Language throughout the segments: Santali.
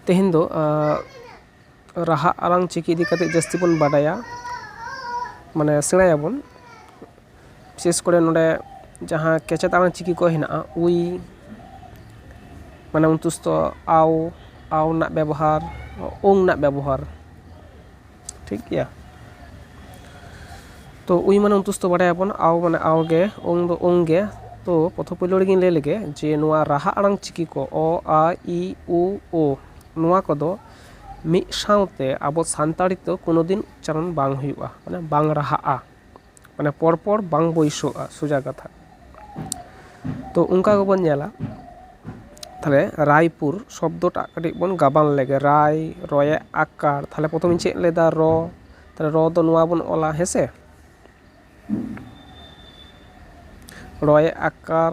ᱛᱮᱦᱮᱧ ᱫᱚ ᱨᱟᱦᱟ ᱟᱲᱟᱝ ᱪᱤᱠᱤ ᱤᱫᱤ ᱠᱟᱛᱮ ᱡᱟᱹᱥᱛᱤ ᱵᱚᱱ ᱵᱟᱰᱟᱭᱟ ᱢᱟᱱᱮ ᱥᱮᱬᱟᱭᱟᱵᱚᱱ ᱵᱤᱥᱮᱥ ᱠᱚᱨᱮ ᱱᱚᱰᱮ ᱡᱟᱦᱟᱸ ᱠᱮᱪᱮᱛ ᱟᱱᱟᱜ ᱪᱤᱠᱤ ᱠᱚ ᱦᱮᱱᱟᱜᱼᱟ ᱩᱭ ᱢᱟᱱᱮ ᱚᱱᱛᱩᱥᱛᱷᱚ ᱟᱣ ᱟᱣ ᱨᱮᱱᱟᱜ ᱵᱮᱵᱚᱦᱟᱨ ᱳᱝ ᱨᱮᱱᱟᱜ ᱵᱮᱵᱚᱦᱟᱨ ᱴᱷᱤᱠ ᱜᱮᱭᱟ ᱛᱚ ᱩᱭ ᱢᱟᱱᱮ ᱩᱱᱛᱩᱥᱛᱚ ᱵᱟᱰᱟᱭᱟᱵᱚᱱ ᱟᱣ ᱢᱟᱱᱮ ᱟᱣ ᱜᱮ ᱚᱝ ᱫᱚ ᱚᱝ ᱜᱮ ᱛᱚ ᱯᱨᱚᱛᱷᱚᱢ ᱯᱳᱭᱞᱳ ᱨᱮᱜᱮᱧ ᱞᱟᱹᱭ ᱞᱮᱜᱮ ᱡᱮ ᱱᱚᱣᱟ ᱨᱟᱦᱟ ᱟᱲᱟᱝ ᱪᱤᱠᱤ ᱠᱚ ᱚ ᱟ ᱤ ᱩ ᱳ ᱱᱚᱣᱟ ᱠᱚᱫᱚ ᱢᱤᱫ ᱥᱟᱶᱛᱮ ᱟᱵᱚ ᱥᱟᱱᱛᱟᱲᱤ ᱛᱮ ᱠᱳᱱᱳ ᱫᱤᱱ ᱩᱪᱪᱟᱨᱚᱱ ᱵᱟᱝ ᱦᱩᱭᱩᱜᱼᱟ ᱢᱟᱱᱮ ᱵᱟᱝ ᱨᱟᱦᱟᱜᱼᱟ ᱢᱟᱱᱮ ᱯᱚᱨ ᱯᱚᱨ ᱵᱟᱝ ᱵᱟᱹᱭᱥᱟᱹᱜᱼᱟ ᱥᱳᱡᱟ ᱠᱟᱛᱷᱟ ᱛᱚ ᱚᱱᱠᱟ ᱜᱮᱵᱚᱱ ᱧᱮᱞᱟ ᱛᱟᱦᱚᱞᱮ ᱨᱟᱭᱯᱩᱨ ᱥᱚᱵᱫᱚ ᱴᱟᱜ ᱠᱟᱹᱴᱤᱡ ᱵᱚᱱ ᱜᱟᱵᱟᱱ ᱞᱮᱜᱮ ᱨᱟᱭ ᱨᱚᱭᱮ ᱟᱠᱟᱨ ᱛᱟᱦᱚᱞᱮ ᱯᱨᱚᱛᱷᱚᱢᱮᱧ ᱪᱮᱫ ᱞᱮᱫᱟ ᱨᱚ ᱛᱟᱦᱚᱞᱮ ᱨᱚ ᱫᱚ ᱱᱚᱣᱟ ᱵᱚᱱ ᱚᱞᱟ ᱦᱮᱸᱥᱮ ᱨᱚᱭᱮ ᱟᱠᱟᱨ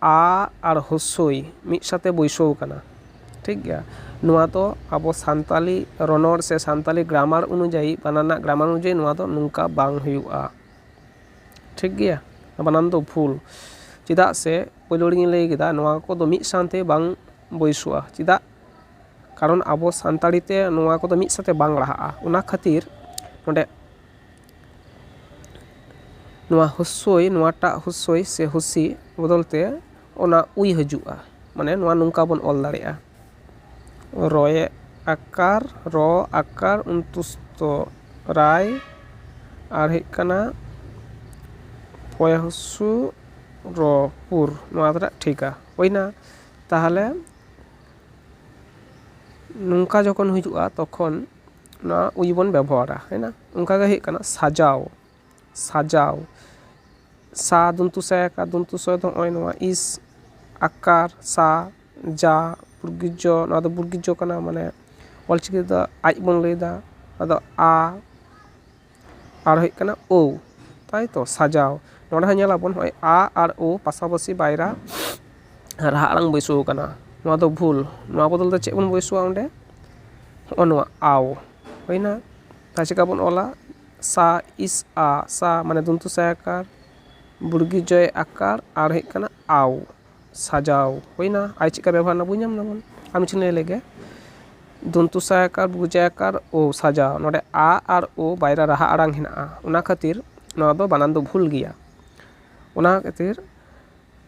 ᱟᱻ ᱟᱨ ᱦᱨᱚᱥᱥᱚᱭ ᱢᱤᱫ ᱥᱟᱶᱛᱮ ᱵᱟᱹᱭᱥᱟᱹᱣ ᱟᱠᱟᱱᱟ ᱴᱷᱤᱠ ᱜᱮᱭᱟ ᱱᱚᱶᱟ ᱫᱚ ᱟᱵᱚ ᱥᱟᱱᱛᱟᱞᱤ ᱨᱚᱱᱚᱲ ᱥᱮ ᱥᱟᱱᱛᱟᱞᱤ ᱜᱽᱨᱟᱢᱟᱨ ᱚᱱᱩᱡᱟᱭᱤ ᱵᱟᱱᱟᱨ ᱨᱮᱱᱟᱜ ᱜᱽᱨᱟᱢᱟᱨ ᱚᱱᱩᱡᱟᱭᱤ ᱱᱚᱶᱟ ᱫᱚ ᱱᱚᱝᱠᱟ ᱵᱟᱝ ᱦᱩᱭᱩᱜᱼᱟ ᱴᱷᱤᱠ ᱜᱮᱭᱟ ᱵᱟᱱᱟᱨ ᱫᱚ ᱵᱷᱩᱞ ᱪᱮᱫᱟᱜ ᱥᱮ ᱯᱩᱭᱞᱩ ᱨᱮᱜᱮᱧ ᱞᱟᱹᱭ ᱠᱮᱫᱟ ᱱᱚᱶᱟ ᱠᱚᱫᱚ ᱢᱤᱫ ᱥᱟᱶᱛᱮ ᱵᱟᱝ ᱵᱟᱹᱭᱥᱟᱹᱜᱼᱟ ᱪᱮᱫᱟᱜ ᱠᱟᱨᱚᱱ ᱟᱵᱚ ᱥᱟᱱᱛᱟᱲᱤ ᱛᱮ ᱱᱚᱶᱟ ᱠᱚᱫᱚ ᱢᱤᱫ ᱥᱟᱶᱛᱮ ᱵᱟᱝ ᱞᱟᱦᱟᱜᱼᱟ ᱚᱱᱟ ᱠᱷᱟᱹᱛᱤᱨ ᱚᱸᱰᱮ ᱱᱚᱣᱟ ᱦᱩᱥᱥᱳᱭ ᱱᱚᱣᱟᱴᱟᱜ ᱦᱩᱥᱥᱳᱭ ᱥᱮ ᱦᱩᱥᱥᱤ ᱵᱚᱫᱚᱞ ᱛᱮ ᱚᱱᱟ ᱩᱭ ᱦᱤᱡᱩᱜᱼᱟ ᱢᱟᱱᱮ ᱱᱚᱣᱟ ᱱᱚᱝᱠᱟ ᱵᱚᱱ ᱚᱞ ᱫᱟᱲᱮᱭᱟᱜᱼᱟ ᱨᱚᱭᱮ ᱟᱠᱟᱨ ᱨᱚ ᱟᱠᱟᱨ ᱩᱱᱛᱩᱥᱛᱚ ᱨᱟᱭ ᱟᱨ ᱦᱩᱭᱩᱜ ᱠᱟᱱᱟ ᱯᱚᱭᱮ ᱦᱩᱥᱥᱩ ᱨᱚ ᱯᱩᱨ ᱱᱚᱣᱟ ᱫᱚ ᱱᱟᱦᱟᱜ ᱴᱷᱤᱠᱟ ᱦᱩᱭᱱᱟ ᱛᱟᱦᱚᱞᱮ ᱱᱚᱝᱠᱟ ᱡᱚᱠᱷᱚᱱ ᱦᱤᱡᱩᱜᱼᱟ ᱛᱚᱠᱷᱚᱱ ᱱᱚᱣᱟ ᱩᱭ ᱵᱚᱱ ᱵᱮᱵᱚᱦᱟᱨᱟ ᱦᱩᱭᱱᱟ ᱚᱱᱠᱟ ᱜᱮ ᱦᱩᱭᱩᱜ ᱠᱟᱱᱟ ᱥᱟᱡᱟᱣ ᱥᱟᱡᱟᱣ ᱥᱟ ᱫᱚᱱᱛᱩ ᱥᱮ ᱠᱟ ᱫᱚᱱᱛᱩ ᱥᱚ ᱫᱚ ᱱᱚᱜᱼᱚᱭ ᱱᱚᱣᱟ ᱤᱥ ᱟᱠᱟᱨ ᱥᱟ ᱡᱟ ᱵᱨᱜᱤ ᱡᱚ ᱱᱚᱣᱟ ᱫᱚ ᱵᱨᱜᱤ ᱡᱚ ᱠᱟᱱᱟ ᱢᱟᱱᱮ ᱚᱞᱪᱤᱠᱤ ᱛᱮᱫᱚ ᱟᱡ ᱵᱚᱱ ᱞᱟᱹᱭᱫᱟ ᱟᱫᱚ ᱟ ᱟᱨ ᱦᱩᱭᱩᱜ ᱠᱟᱱᱟ ᱳᱣ ᱛᱟᱭ ᱛᱚ ᱥᱟᱡᱟᱣ ᱱᱚᱸᱰᱮ ᱦᱚᱸ ᱧᱮᱞ ᱟᱵᱚᱱ ᱱᱚᱜᱼᱚᱭ ᱟ ᱟᱨ ᱳ ᱯᱟᱥᱟᱯᱟᱥᱤ ᱵᱟᱭᱨᱟ ᱨᱟᱦᱟ ᱟᱲᱟᱝ ᱵᱟᱹᱭᱥᱟᱹᱣ ᱟᱠᱟᱱᱟ ᱱᱚᱣᱟ ᱫᱚ ᱵᱷᱩᱞ ᱱᱚᱣᱟ ᱵᱚᱫᱚᱞ ᱛᱮ ᱪᱮᱫ ᱵᱚᱱ ᱵᱟᱹᱭᱥᱟᱹᱣᱟ ᱚᱸᱰᱮ ᱦᱚᱸᱜᱼᱚ ᱱᱚᱣᱟ ᱟᱣ ᱦᱩᱭᱱᱟ ᱛᱟᱦᱚᱞᱮ ᱪᱤᱠᱟᱹ ᱵᱚᱱ ᱚᱞᱟ ᱥᱟ ᱤᱥ ᱟ ᱥᱟ ᱢᱟᱱᱮ ᱫᱚᱱᱛᱚ ᱥ ᱮ ᱟᱠᱟᱨ ᱵᱩᱲᱜᱤ ᱡᱚ ᱮ ᱟᱠᱟᱨ ᱟᱨ ᱦᱩᱭᱩᱜ ᱠᱟᱱᱟ ᱟᱣ ᱥᱟᱡᱟᱣ ᱦᱩᱭᱱᱟ ᱟᱨ ᱪᱮᱫ ᱞᱮᱠᱟ ᱵᱮᱵᱚᱦᱟᱨ ᱮᱱᱟ ᱵᱩᱡᱽ ᱧᱟᱢ ᱮᱫᱟᱵᱚᱱ ᱟᱨ ᱢᱤᱫᱴᱮᱱ ᱞᱟᱹᱭ ᱞᱮᱜᱮ ᱫᱚᱱᱛᱚ ᱥ ᱟᱠᱟᱨ ᱵᱨᱩ ᱡ ᱟᱠᱟᱨ ᱳ ᱥᱟᱡᱟᱣ ᱱᱚᱸᱰᱮ ᱟ ᱟᱨ ᱳ ᱵᱟᱨᱭᱟ ᱨᱟᱦᱟ ᱟᱲᱟᱝ ᱦᱮᱱᱟᱜᱼᱟ ᱚᱱᱟ ᱠᱷᱟᱹᱛᱤᱨ ᱱᱚᱣᱟ ᱫᱚ ᱵᱟᱱᱟᱱ ᱫᱚ ᱵᱷᱩᱞ ᱜᱮᱭᱟ ᱚᱱᱟ ᱠᱷᱟᱹᱛᱤᱨ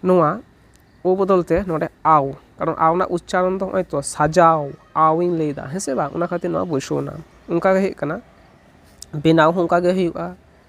ᱱᱚᱣᱟ ᱳ ᱵᱚᱫᱚᱞ ᱛᱮ ᱱᱚᱸᱰᱮ ᱟᱣ ᱠᱟᱨᱚᱱ ᱟᱣ ᱨᱮᱱᱟᱜ ᱩᱪᱪᱟᱨᱚᱱ ᱫᱚ ᱱᱚᱜᱼᱚᱭ ᱛᱚ ᱥᱟᱡᱟᱣ ᱟᱣ ᱤᱧ ᱞᱟᱹᱭ ᱮᱫᱟ ᱦᱮᱸ ᱥᱮ ᱵᱟᱝ ᱚᱱᱟ ᱠᱷᱟᱹᱛᱤᱨ ᱱᱚᱣᱟ ᱵᱟᱹᱭᱥᱟᱹᱣ ᱮᱱᱟ ᱚᱱᱠᱟ ᱜᱮ ᱦᱩᱭᱩᱜ ᱠᱟᱱᱟ ᱵᱮᱱᱟᱣ ᱦᱚᱸ ᱚᱱᱠᱟ ᱜᱮ ᱦᱩᱭᱩᱜᱼᱟ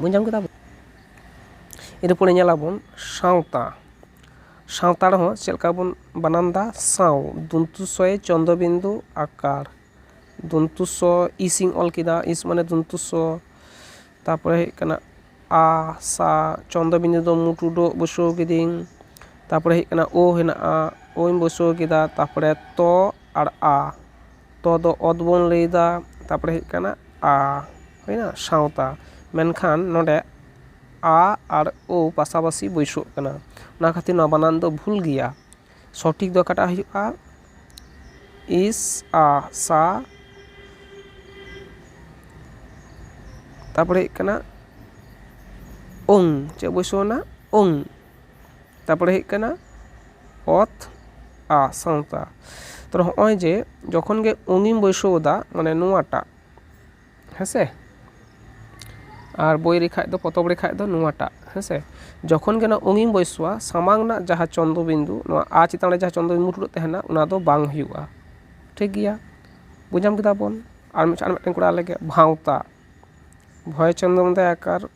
ᱵᱩᱡᱽ ᱧᱟᱢ ᱠᱮᱫᱟᱵᱚᱱ ᱤᱱᱟᱹ ᱯᱚᱨᱮ ᱧᱮᱞ ᱟᱵᱚᱱ ᱥᱟᱶᱛᱟ ᱥᱟᱶᱛᱟ ᱨᱮᱦᱚᱸ ᱪᱮᱫ ᱞᱮᱠᱟ ᱵᱚᱱ ᱵᱟᱱᱟᱢ ᱮᱫᱟ ᱥᱟᱶ ᱫᱚᱱᱛᱚ ᱥᱚ ᱭᱮ ᱪᱚᱱᱫᱨᱚ ᱵᱤᱱᱫᱩ ᱟᱠᱟᱨ ᱫᱚᱱᱛᱚ ᱥ ᱤᱥ ᱤᱧ ᱚᱞ ᱠᱮᱫᱟ ᱤᱥ ᱢᱟᱱᱮ ᱫᱚᱱᱛᱚ ᱥ ᱛᱟᱨᱯᱚᱨᱮ ᱦᱩᱭᱩᱜ ᱠᱟᱱᱟ ᱟ ᱥᱟ ᱪᱚᱱᱫᱨᱚ ᱵᱤᱱᱫᱩ ᱫᱚ ᱢᱩ ᱴᱩᱰᱟᱹᱜ ᱵᱟᱹᱭᱥᱟᱹᱣ ᱠᱤᱫᱟᱹᱧ ᱛᱟᱨᱯᱚᱨᱮ ᱦᱩᱭᱩᱜ ᱠᱟᱱᱟ ᱳ ᱦᱮᱱᱟᱜᱼᱟ ᱳᱧ ᱵᱟᱹᱭᱥᱟᱹᱣ ᱠᱮᱫᱟ ᱛᱟᱨᱯᱚᱨᱮ ᱛᱚ ᱟᱨ ᱟ ᱛᱚ ᱫᱚ ᱚᱛ ᱵᱚᱱ ᱞᱟᱹᱭ ᱮᱫᱟ ᱛᱟᱨᱯᱚᱨᱮ ᱦᱩᱭᱩᱜ ᱠᱟᱱᱟ ᱟ ᱦᱩᱭᱮᱱᱟ ᱥᱟᱶᱛᱟ ᱢᱮᱱᱠᱷᱟᱱ ᱱᱚᱰᱮ ᱟ ᱟᱨ ᱳ ᱯᱟᱥᱟᱯᱟᱥᱤ ᱵᱟᱹᱭᱥᱟᱹᱜ ᱠᱟᱱᱟ ᱚᱱᱟ ᱠᱷᱟᱹᱛᱤᱨ ᱱᱚᱶᱟ ᱵᱟᱱᱟᱱ ᱫᱚ ᱵᱷᱩᱞ ᱜᱮᱭᱟ ᱥᱚᱴᱷᱤᱠ ᱫᱚ ᱚᱠᱟᱴᱟᱜ ᱦᱩᱭᱩᱜᱼᱟ ᱤᱥ ᱟ ᱥᱟ ᱛᱟᱨᱯᱚᱨᱮ ᱦᱩᱭᱩᱜ ᱠᱟᱱᱟ ᱳᱝ ᱪᱮᱫ ᱵᱟᱹᱭᱥᱟᱹᱣ ᱮᱱᱟ ᱳᱝ ᱛᱟᱨᱯᱚᱨᱮ ᱦᱩᱭᱩᱜ ᱠᱟᱱᱟ ᱚᱛ ᱟ ᱥᱟᱶᱛᱟ ᱛᱚ ᱦᱚᱜᱼᱚᱭ ᱡᱮ ᱡᱚᱠᱷᱚᱱ ᱜᱮ ᱚᱝᱜᱤᱢ ᱵᱟᱹᱭᱥᱟᱹᱣᱫᱟ ᱢᱟᱱᱮ ᱱᱚᱣᱟᱴᱟᱜ ᱦᱮᱸᱥᱮ ᱟᱨ ᱵᱳᱭ ᱨᱮ ᱠᱷᱟᱱ ᱫᱚ ᱯᱚᱛᱚᱵ ᱨᱮ ᱠᱷᱟᱱ ᱫᱚ ᱱᱚᱣᱟᱴᱟᱜ ᱦᱮᱸᱥᱮ ᱡᱚᱠᱷᱚᱱ ᱜᱮ ᱱᱚᱣᱟ ᱚᱝᱜᱤᱢ ᱵᱟᱹᱭᱥᱟᱹᱣᱟ ᱥᱟᱢᱟᱝ ᱨᱮᱱᱟᱜ ᱡᱟᱦᱟᱸ ᱪᱚᱱᱫᱨᱚ ᱵᱤᱱᱫᱩ ᱱᱚᱣᱟ ᱟ ᱪᱮᱛᱟᱱ ᱨᱮ ᱡᱟᱦᱟᱸ ᱪᱚᱱᱫᱨᱚ ᱵᱤᱱᱫᱩ ᱢᱩᱴᱷᱟᱹᱱ ᱛᱟᱦᱮᱱᱟ ᱚᱱᱟ ᱫᱚ ᱵᱟᱝ ᱦᱩᱭᱩᱜᱼᱟ ᱴᱷᱤᱠ ᱜᱮᱭᱟ ᱵᱩᱡᱽ ᱧᱟᱢ ᱠᱮᱫᱟ ᱵᱚᱱ ᱟᱨ ᱢᱤᱫᱴᱮᱱ ᱠᱚᱨᱟᱣ ᱞᱮᱜᱮ ᱵᱷᱟᱶᱛᱟ ᱵᱷᱚᱭ ᱪᱚᱱᱫᱨᱚ ᱢᱚᱱᱫᱟᱭ ᱟᱠᱟᱨ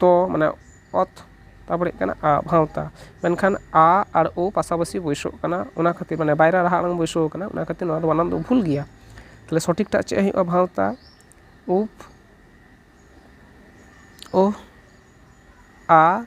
ᱛ ᱢᱟᱱᱮ ᱚᱛ ᱛᱟᱨᱯᱚᱨᱮ ᱦᱩᱭᱩᱜ ᱠᱟᱱᱟ ᱟ ᱵᱷᱟᱶᱛᱟ ᱢᱮᱱᱠᱷᱟᱱ ᱟ ᱟᱨ ᱳ ᱯᱟᱥᱟᱯᱟᱥᱤ ᱵᱟᱹᱭᱥᱟᱹᱜ ᱠᱟᱱᱟ ᱚᱱᱟ ᱠᱷᱟᱹᱛᱤᱨ ᱢᱟᱱᱮ ᱵᱟᱭᱨᱟ ᱨᱟᱦᱟ ᱟᱲᱟᱝ ᱵᱟᱹᱭᱥᱟᱹᱣ ᱠᱟᱱᱟ ᱚᱱᱟ ᱠᱷᱟᱹᱛᱤᱨ ᱱᱚᱣᱟ ᱫᱚ ᱵᱟᱱᱟᱱ ᱫᱚ ᱵᱷᱩᱞ ᱜᱮᱭᱟ ᱛᱟᱦᱚᱞᱮ ᱥᱚᱴᱷᱤᱠ ᱴᱟᱜ ᱪᱮᱫ ᱦᱩᱭᱩᱜᱼᱟ ᱵᱷᱟᱶᱛᱟ ᱩᱯᱷ ᱳᱦ ᱟ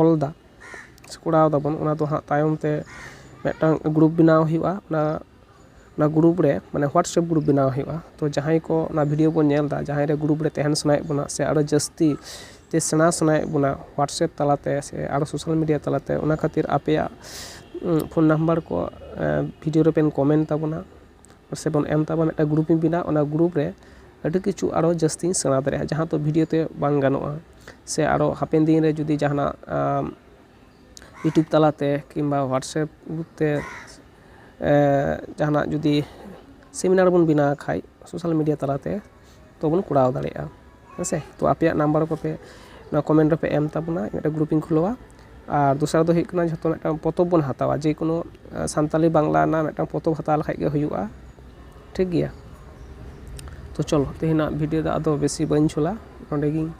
ᱚᱞ ᱫᱟ ᱥᱮ ᱠᱚᱨᱟᱣ ᱫᱟᱵᱚᱱ ᱚᱱᱟ ᱫᱚ ᱦᱟᱸᱜ ᱛᱟᱭᱚᱢ ᱛᱮ ᱢᱤᱫᱴᱟᱝ ᱜᱨᱩᱯ ᱵᱮᱱᱟᱣ ᱦᱩᱭᱩᱜᱼᱟ ᱚᱱᱟ ᱚᱱᱟ ᱜᱨᱩᱯ ᱨᱮ ᱢᱟᱱᱮ ᱦᱳᱣᱟᱴᱥᱮᱯ ᱜᱨᱩᱯ ᱵᱮᱱᱟᱣ ᱦᱩᱭᱩᱜᱼᱟ ᱛᱚ ᱡᱟᱦᱟᱸᱭ ᱠᱚ ᱚᱱᱟ ᱵᱷᱤᱰᱭᱳ ᱵᱚᱱ ᱧᱮᱞ ᱮᱫᱟ ᱡᱟᱦᱟᱸᱭ ᱨᱮ ᱜᱨᱩᱯ ᱨᱮ ᱛᱟᱦᱮᱱ ᱥᱟᱱᱟᱭᱮᱫ ᱵᱚᱱᱟ ᱥᱮ ᱟᱨᱚ ᱡᱟᱹᱥᱛᱤ ᱛᱮ ᱥᱮᱬᱟ ᱥᱟᱱᱟᱭᱮᱫ ᱵᱚᱱᱟ ᱦᱳᱣᱟᱴᱥᱮᱯ ᱛᱟᱞᱟ ᱛᱮ ᱥᱮ ᱟᱨᱚ ᱥᱳᱥᱟᱞ ᱢᱤᱰᱤᱭᱟ ᱛᱟᱞᱟ ᱛᱮ ᱚᱱᱟ ᱠᱷᱟᱹᱛᱤᱨ ᱟᱯᱮᱭᱟᱜ ᱯᱷᱳᱱ ᱱᱟᱢᱵᱟᱨ ᱠᱚ ᱵᱷᱤᱰᱭᱳ ᱨᱮᱵᱮᱱ ᱠᱚᱢᱮᱱᱴ ᱛᱟᱵᱚᱱᱟ ᱯᱟᱥᱮᱡ ᱵᱚᱱ ᱮᱢ ᱛᱟᱵᱚᱱ ᱢᱤᱫᱴᱟᱱ ᱜᱨᱩᱯ ᱤᱧ ᱵᱮᱱᱟᱣᱟ ᱚᱱᱟ ᱜᱨᱩᱯ ᱨᱮ ᱟᱹᱰᱤ ᱠᱤᱪᱷᱩ ᱟᱨᱚ ᱡᱟᱹᱥᱛᱤᱧ ᱥᱮᱬᱟ ᱫᱟᱲᱮᱭᱟᱜᱼᱟ ᱡᱟᱦᱟᱸ ᱫᱚ ᱵᱷᱤᱰᱭᱳ ᱛᱮ ᱵᱟᱝ ᱜᱟᱱᱚᱜᱼᱟ ᱥᱮ ᱟᱨᱚ ᱦᱟᱯᱮᱱ ᱫᱤᱱ ᱨᱮ ᱡᱩᱫᱤ ᱡᱟᱦᱟᱱᱟᱜ ᱤᱭᱩᱴᱩᱵᱽ ᱛᱟᱞᱟᱛᱮ ᱠᱤᱢᱵᱟ ᱦᱳᱣᱟᱴᱥᱮᱯ ᱜᱨᱩᱯ ᱛᱮ ᱡᱟᱦᱟᱱᱟᱜ ᱡᱩᱫᱤ ᱥᱮᱢᱤᱱᱟᱨ ᱵᱚᱱ ᱵᱮᱱᱟᱣ ᱠᱷᱟᱱ ᱥᱳᱥᱟᱞ ᱢᱤᱰᱤᱭᱟ ᱛᱟᱞᱟᱛᱮ ᱛᱚᱵᱚᱱ ᱠᱚᱨᱟᱣ ᱫᱟᱲᱮᱭᱟᱜᱼᱟ ᱦᱮᱸ ᱥᱮ ᱛᱚ ᱟᱯᱮᱭᱟᱜ ᱱᱟᱢᱵᱟᱨ ᱠᱚᱯᱮ ᱱᱚᱣᱟ ᱠᱚᱢᱮᱱᱴ ᱨᱮᱯᱮ ᱮᱢ ᱛᱟᱵᱚᱱᱟ ᱢᱤᱫᱴᱮᱱ ᱜᱨᱩᱯ ᱤᱧ ᱠᱷᱩᱞᱟᱹᱣᱟ ᱟᱨ ᱫᱚᱥᱟᱨ ᱫᱚ ᱦᱩᱭᱩᱜ ᱠᱟᱱᱟ ᱡᱷᱚᱛᱚ ᱢᱤᱫᱴᱟᱱ ᱯᱚᱛᱚᱵ ᱵᱚᱱ ᱦᱟᱛᱟᱣᱟ ᱡᱮ ᱠᱳᱱᱳ ᱥᱟᱱᱛᱟᱞᱤ ᱵᱟᱝᱞᱟ ᱨᱮᱱᱟᱜ ᱢᱤᱫᱴᱟᱱ ᱯᱚᱛᱚᱵ ᱦᱟᱛᱟᱣ ᱞᱮᱠᱷᱟᱱ ᱜᱮ ᱦᱩᱭᱩᱜᱼᱟ ᱴᱷᱤᱠ ᱜᱮᱭᱟ ᱛᱚ ᱪᱚᱞᱚ ᱛᱮᱦᱮᱧᱟᱜ ᱵᱷᱤᱰᱤᱭᱳ ᱫᱚ ᱟᱫᱚ ᱵᱮᱥᱤ ᱵᱟᱹᱧ ᱡᱷᱳᱞᱟ ᱱᱚᱰᱮ ᱜᱤᱧ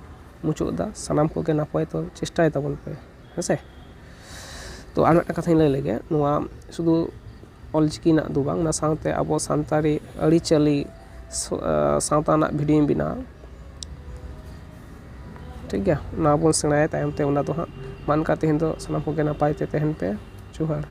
ᱢᱩᱪᱟᱹᱫ ᱮᱫᱟ ᱥᱟᱱᱟᱢ ᱠᱚᱜᱮ ᱱᱟᱯᱟᱭ ᱛᱮ ᱪᱮᱥᱴᱟᱭ ᱛᱟᱵᱚᱱ ᱯᱮ ᱦᱮᱸ ᱥᱮ ᱛᱚ ᱟᱨ ᱢᱤᱫᱴᱟᱝ ᱠᱟᱛᱷᱟᱧ ᱞᱟᱹᱭ ᱞᱮᱜᱮ ᱱᱚᱣᱟ ᱥᱩᱫᱩ ᱚᱞ ᱪᱤᱠᱤ ᱨᱮᱱᱟᱜ ᱫᱚ ᱵᱟᱝ ᱚᱱᱟ ᱥᱟᱶᱛᱮ ᱟᱵᱚ ᱥᱟᱱᱛᱟᱲᱤ ᱟᱹᱨᱤᱪᱟᱹᱞᱤ ᱥᱟᱶᱛᱟ ᱨᱮᱱᱟᱜ ᱵᱷᱤᱰᱭᱳᱧ ᱵᱮᱱᱟᱣᱟ ᱴᱷᱤᱠ ᱜᱮᱭᱟ ᱚᱱᱟ ᱵᱚᱱ ᱥᱮᱬᱟᱭᱟ ᱛᱟᱭᱚᱢ ᱛᱮ ᱚᱱᱟ ᱫᱚ ᱦᱟᱸᱜ ᱢᱟ ᱮᱱᱠᱷᱟᱱ ᱛᱮᱦᱮᱧ ᱫᱚ ᱥᱟᱱᱟᱢ ᱠᱚᱜᱮ ᱱᱟᱯᱟᱭ ᱛᱮ ᱛᱟᱦᱮᱱ ᱯᱮ ᱡᱚᱦᱟᱨ